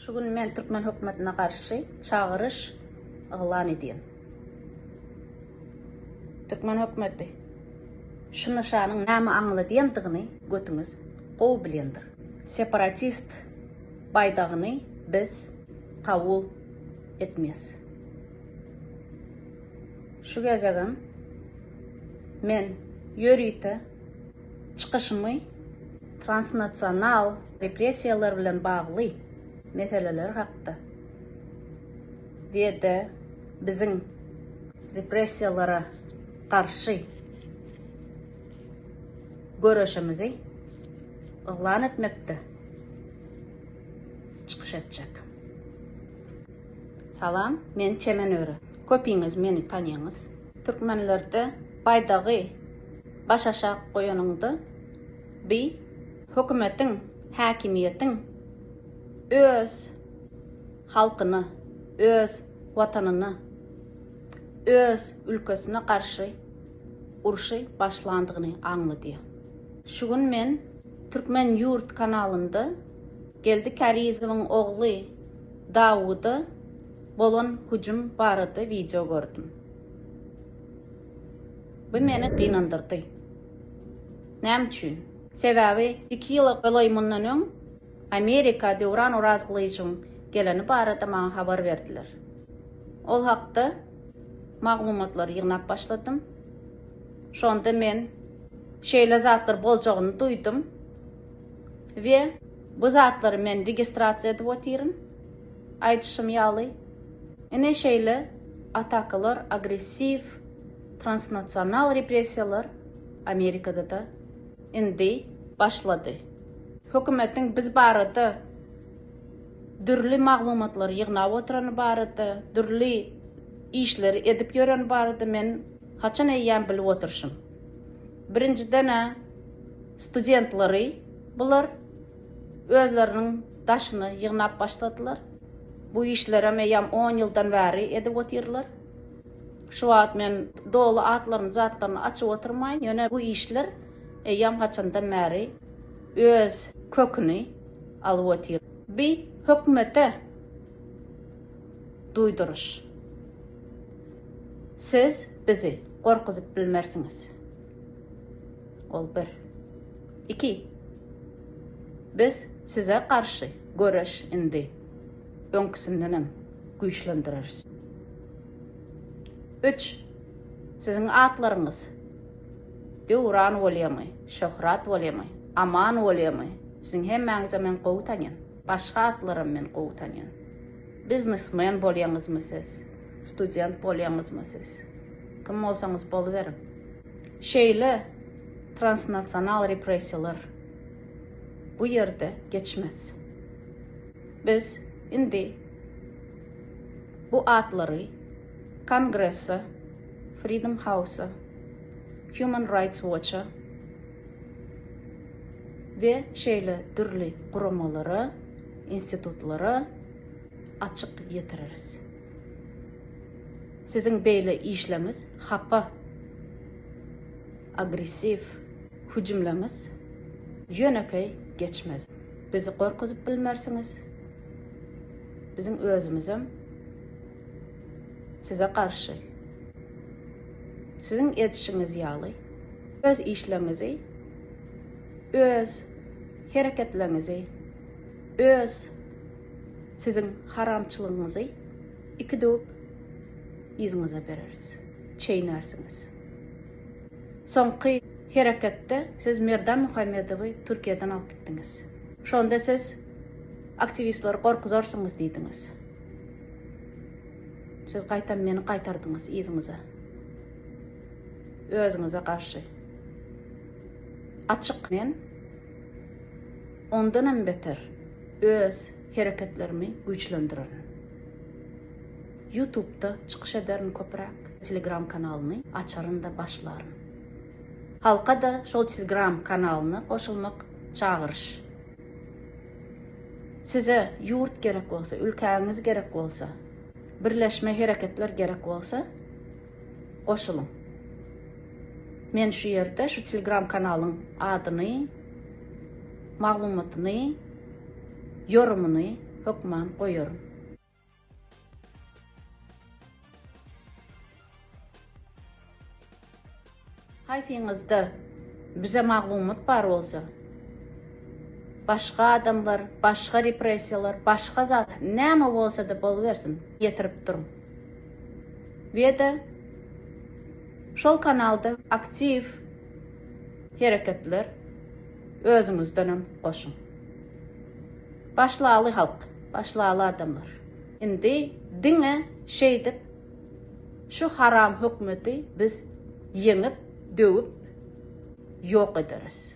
Şu gün men türkmen hökümetine garşy çagyryş yglan edýän. Türkmen hökümeti şu nyşanyň näme aňladýandygyny götüňiz gowy bilýändir. Separatist baýdagyny biz kabul etmeýäs. Şu gezegem men ýörite çykyşymy transnasional repressiýalar bilen bagly meseleler hakda we-de biziň repressiýalara garşy göreşimizi yglan etmekde çykyş etjek. Salam, men Çemen Öre. Köpiňiz meni tanýaňyz. Türkmenlerde baýdagy baş aşak goýanyňda bi hökümetiň, häkimiýetiň öz halkyna, öz watanyna, öz ülkesine garşy urşy başlandygyny aňladýa. Şu gün men Türkmen Yurt kanalynda Geldi Kärizowyň ogly, Dawuda bolan hüjüm barada wideo gördüm. Bu meni gynandyrdy. Näme üçin? Sebäbi iki ýyla golaý mundan öň Amerika Döwran Orazgylyjowyň geleni barada maňa habar berdiler. Ol hakda maglumatlary ýygnap başladym. Şonda men şeýle zatlar boljagyny duýdum we Bu zatlary men registrasiýa edip otyryn. Aýdyşym ýaly, ine şeýle atakalar, agressiw, transnasional repressiýalar Amerikada-da indi başlady. Hökümetiň biz barada dürli maglumatlary ýygnap oturany barada, dürli işleri edip ýöreni barada men haçan eýýäm bilip oturşym. Birinjiden-ä, studentleri bular özleriniň daşyny ýygnap başladylar. Bu işlerem eýýäm on ýyldan bäri edip otyrlar. Şu wagt men doly atlaryny, zatlaryny açyp oturmaýyn, ýöne bu işler eýýäm haçandan bäri öz köküni alyp otyr. Bi hökümete duýduryş. Siz Bizi gorkuzyp bilmersiňiz. Ol bir. Iki. Biz size garşy göreş indi öňküsindenem güýçlendireriz. Üç. Siziň atlaryňyz Döwran bolýamy, Şöhrat bolýamy, Aman bolýamy, siziň hemmäňizem men gowy tanýan. Başga atlaram men gowy tanýan. Biznesmen bolýaňyzmy siz? Student bolýaňyzmy siz? Kim bolsaňyz boluberiň. Şeýle transnasional repressiýalar bu ýerde geçmez. Biz indi bu atlary Kongresse, Freedom House-a, Human Rights Watch-a, we şeýle dürli guramalara, institutlara açyk ýetireris. Siziň beýle işleňiz hapa, agressiw hüjümleňiz ýönekeý geçmez. Bizi gorkuzyp bilmersiňiz, biziň özümizem, Size garşy, siziň edişiňiz ýaly, öz işleriňizi, öz hereketleriňizi, öz siziň haramçylygyňyzy iki döwüp yzyňyza bereris, çeýnärsiňiz. Soňky hereketde siz Merdan Muhammedowy Türkiýeden alyp gitdiňiz. Şonda siz aktiwistleri gorkuzarsyňyz diýdiňiz. Siz gaýtam meni gaýtardyňyz yzyňyza. Özüňize garşy. Açyk men ondanam beter öz hereketlerimi güýçlendirerin. Ýutubda çykyş ederin köpräk, Telegram kanalyny açaryn-da başlaryn. Halka-da şol Telegram kanalyna goşulmak çagyryş. Size ýurt gerek bolsa, ülkäňiz gerek bolsa, birleşme hereketler gerek bolsa, goşulyň. Men şu ýerde şu Telegram kanalyň adyny, maglumatyny, ýorumyny hökman goýaryn. Haýsyňyzda bize maglumat bar bolsa, başga adamlar, başga repressiýalar, başga zat, näme bolsa-da bolubersin, ýetirip duruň. Weda, şol kanalda aktiw hereketler özüňizdenem goşuň. Başlaly halk, başlaly adamlar. Indi diňe şeýdip şu haram hökmeti biz ýeňip, döwüp ýok ederis.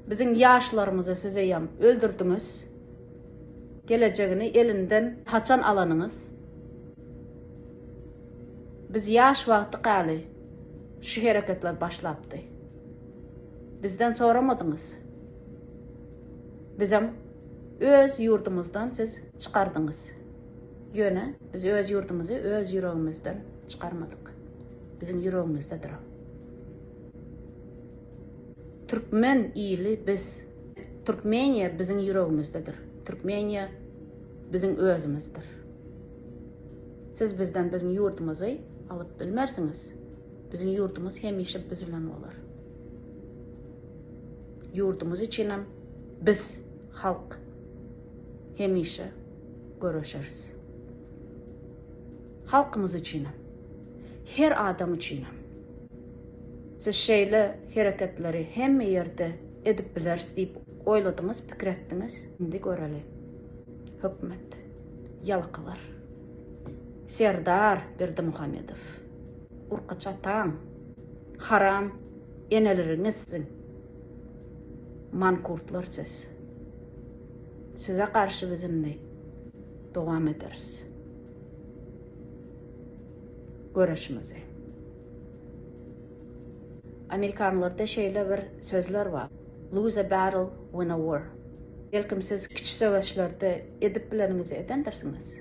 Biziň ýaşlarymyzy siz eýýäm öldürdiňiz. Gelejegini elinden haçan alanyňyz? Biz ýaş wagtykaly şu hereketler başlapdy. Bizden soramadyňyz. Bizem öz ýurdumyzdan siz çykardyňyz. Ýöne biz öz ýurdumyzy öz ýüregimizden çykarmadyk. Biziň ýüregimizdedir o. Türkmen ili biz. Türkmeniýa biziň ýüregimizdedir. Türkmeniýa biziň özümizdir. Siz bizden biziň ýurdumyzy alyp bilmersiňiz. Biziň ýurdumyz hemişe biz bilen bolar. Ýurdumyz üçinem biz, halk, hemişe göreşeris. Halkymyz üçinem, her adam üçinem. Siz şeýle hereketleri hemme ýerde edip bileris diýip oýladyňyz, pikir etdiňiz. Indi göreli. Hökümet. Ýalakalar. Serdar Berdimuhamedow. Urka çatan. Haram eneleriňiz siziň. Mankurtlar siz. Size garşy biz indi dowam ederis. Göreşimizi. Amerikanlarda şeýle bir sözler bar, Lose a battle, win a war. Belkim siz kiçi söweşlerde edip bileniňizi edendirsiňiz.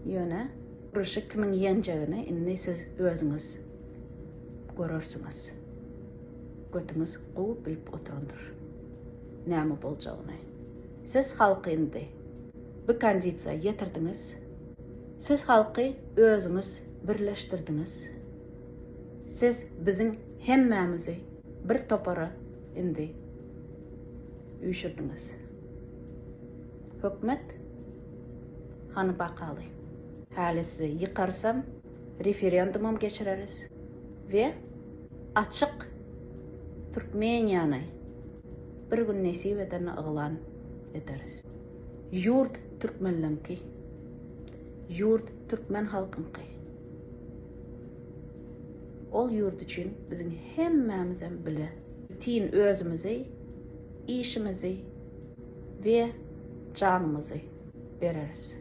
Ýöne uruşy kimiň ýenjegini indi siz özüňiz görersiňiz. Götüňiz gowy bilip oturandyr näme boljagyny. Siz halky indi bu kondisiýa ýetirdiňiz. Siz halky özüňiz birleşdirdiňiz. Siz biziň hemmämizi bir topara indi üýşürdiňiz. Hökmet, hany bakaly. Häli sizi ýykarsam, referendumam geçireris we açyk Türkmeniýany bir gün nesip edende yglan ederis. Ýurt türkmenleňki. Ýurt türkmen halkyňky. Ol ýurt üçin biziň hemmämizem bile bütin özümizi, işimizi we janymyzy bereris.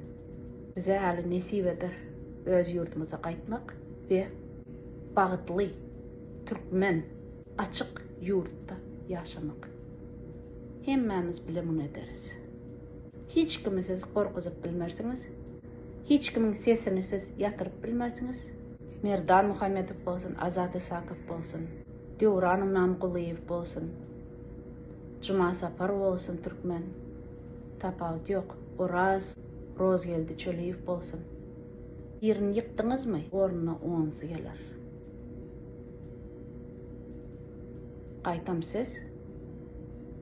Bize häli nesip eder öz ýurdumyza gaýtmak we bagtly türkmen Açyk ýurtda ýaşamak. Hemmämiz bile muny ederis. Hiç kimi siz gorkuzyp bilmersiňiz, hiç kimiň sesini siz ýatyryp bilmersiňiz, Merdan Muhammedow bolsun, Azat Isakow bolsun, Döwran Ymamgulyýew bolsun, Juma Sapar bolsun, türkmen, tapawut ýok, Oraz, Rozgeldi Çöliýew bolsun. Birini ýykdyňyzmy, ornuna onsy geler. Gaýtam siz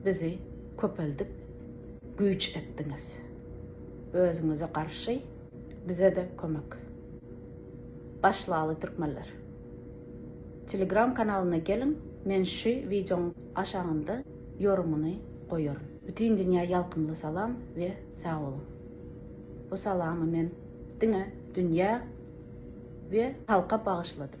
bizi köpeldip güýç etdiňiz. Özüňize garşy bizede kömek. Başlaly türkmenler. Telegram kanalyna geliň men şu wideoň aşagynda ýorumyny goýaryn. Bütin dünýä ýalkymly salam we sag boluň. Bu salamy men diňe dünýä we halka bagyşladym.